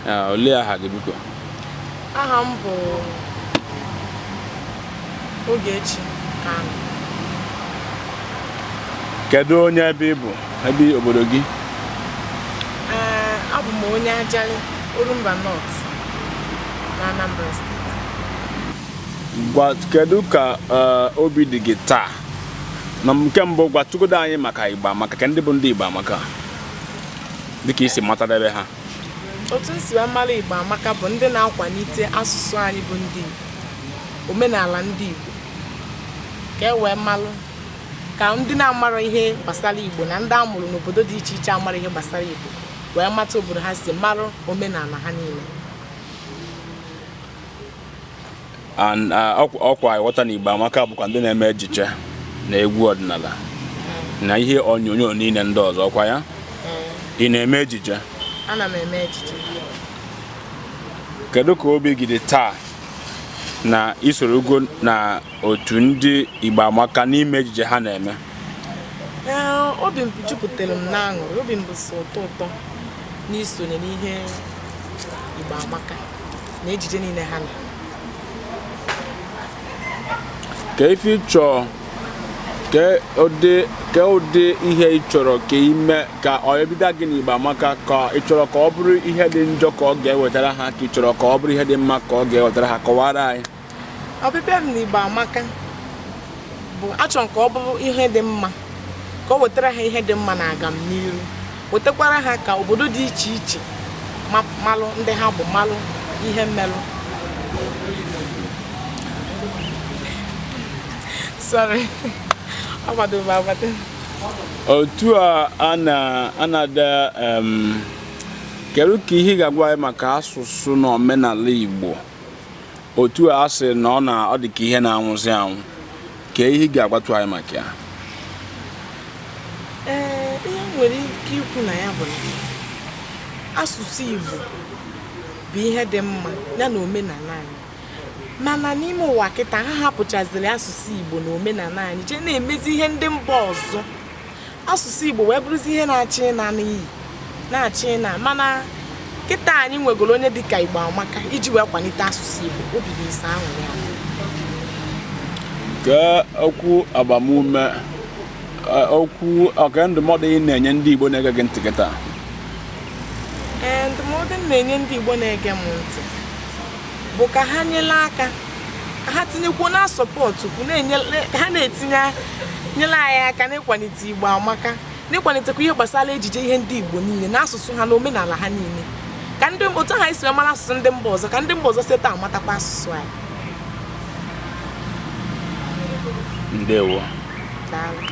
Ah, olee aha gị biko aha m bụ Ogechi Kanu kedu onye ebe ị bụ ebe obodo gị ee abụ m onye Ajali Orumba North na Anambra steeti ngwa kedu ka eh, obi dị gị taa na nke mbụ gwatụgodo anyị maka Igbo Amaka ke ndị bụ ndị Igbo Amaka dịka i si matadebe ha otu m si wee mara igbo amaka bụ ndị na-akwalite asụsụ anyị bụ ndị igbo omenala ndị igbo ka e wee malụ ka ndị na-amarọ ihe gbasara igbo na ndị a mụrụ n'obodo dị iche iche amarọ ihe gbasara igbo wee mata obodo ha si mara omenala ha niile and uh, ọkwa ịghọta na Igbo Amaka bụkwa ndị na-eme ejije na egwu ọdịnala mm. na ihe onyonyo niile ndị ọzọ ọkwa ya mm. ị na-eme ejije ana m eme ejije kedu ka obi gị dị taa na i sorogo na otu ndị Igbo Amaka n'ime ejije ha na-eme obi m jupụtara m n'aṅụrị obi m bụ sọ ụtọ ụtọ n'isonye n'ihe Igbo Amaka na ejije niile ha na ke ife ị chọ ke ụdị ihe ị chọrọ ka ime ka ọbịbịa gị n'Igbo Amaka ka ị chọrọ ka ọ bụrụ ihe dị njọ ka ọ ga-ewetara ha ka ị chọrọ ka ọ bụrụ ihe dị mma ka ọ ga-ewetara ha kọwara anyị ọbịbịa m n'Igbo amaka bụ achọ m ka ọ bụrụ ihe dị mma ka o wetara ha ihe dị mma na agamniru wetakwara ha ka obodo dị iche iche malụ ndị ha bụ malụ ihe m melụ sorry otu a a na-ada kedu ka ihe ị ga-agwa anyị maka asụsụ na omenala Igbo otu a sị na ọ na ọ dị ka ihe na-anwụzi anwụ ke ihe ị ga-agwatụ anyị maka ya ee ihe m nwere ike ikwu na ya bụ na asụsụ Igbo bụ ihe dị mma ya na omenala anyị mana n'ime ụwa kịta ha hapụchaziri asụsụ Igbo na omenala anyị jee na-emezi ihe ndị mba ọzọ asụsụ Igbo wee bụrụzi ihe na-achọ ịna n'iyi na-achọ ịna mana kịta anyị nwegoro onye dịka Igbo amaka iji wee kwalite asụsụ Igbo obi bụ ise ahụ ya ke okwu agbamume okwu ke ndụmọdụ ị na-enye ndị Igbo na-ege gị ntị kịta ee ndụmọdụ m na-enye ndị Igbo na-ege m ntị bụ ka ha nyere aka ka ha tinyekwuo na support kwu na-enye ka ha na-etinye nyere anyị aka n'ịkwalite igbo amaka n'ịkwalitekwa ihe gbasara ejije ihe ndị igbo niile na asụsụ ha na omenala ha niile ka ndị otu ha si wee mara asụsụ ndị mba ọzọ ka ndị mba ọzọ si etu a matakwa asụsụ anyị ndewo Daalụ.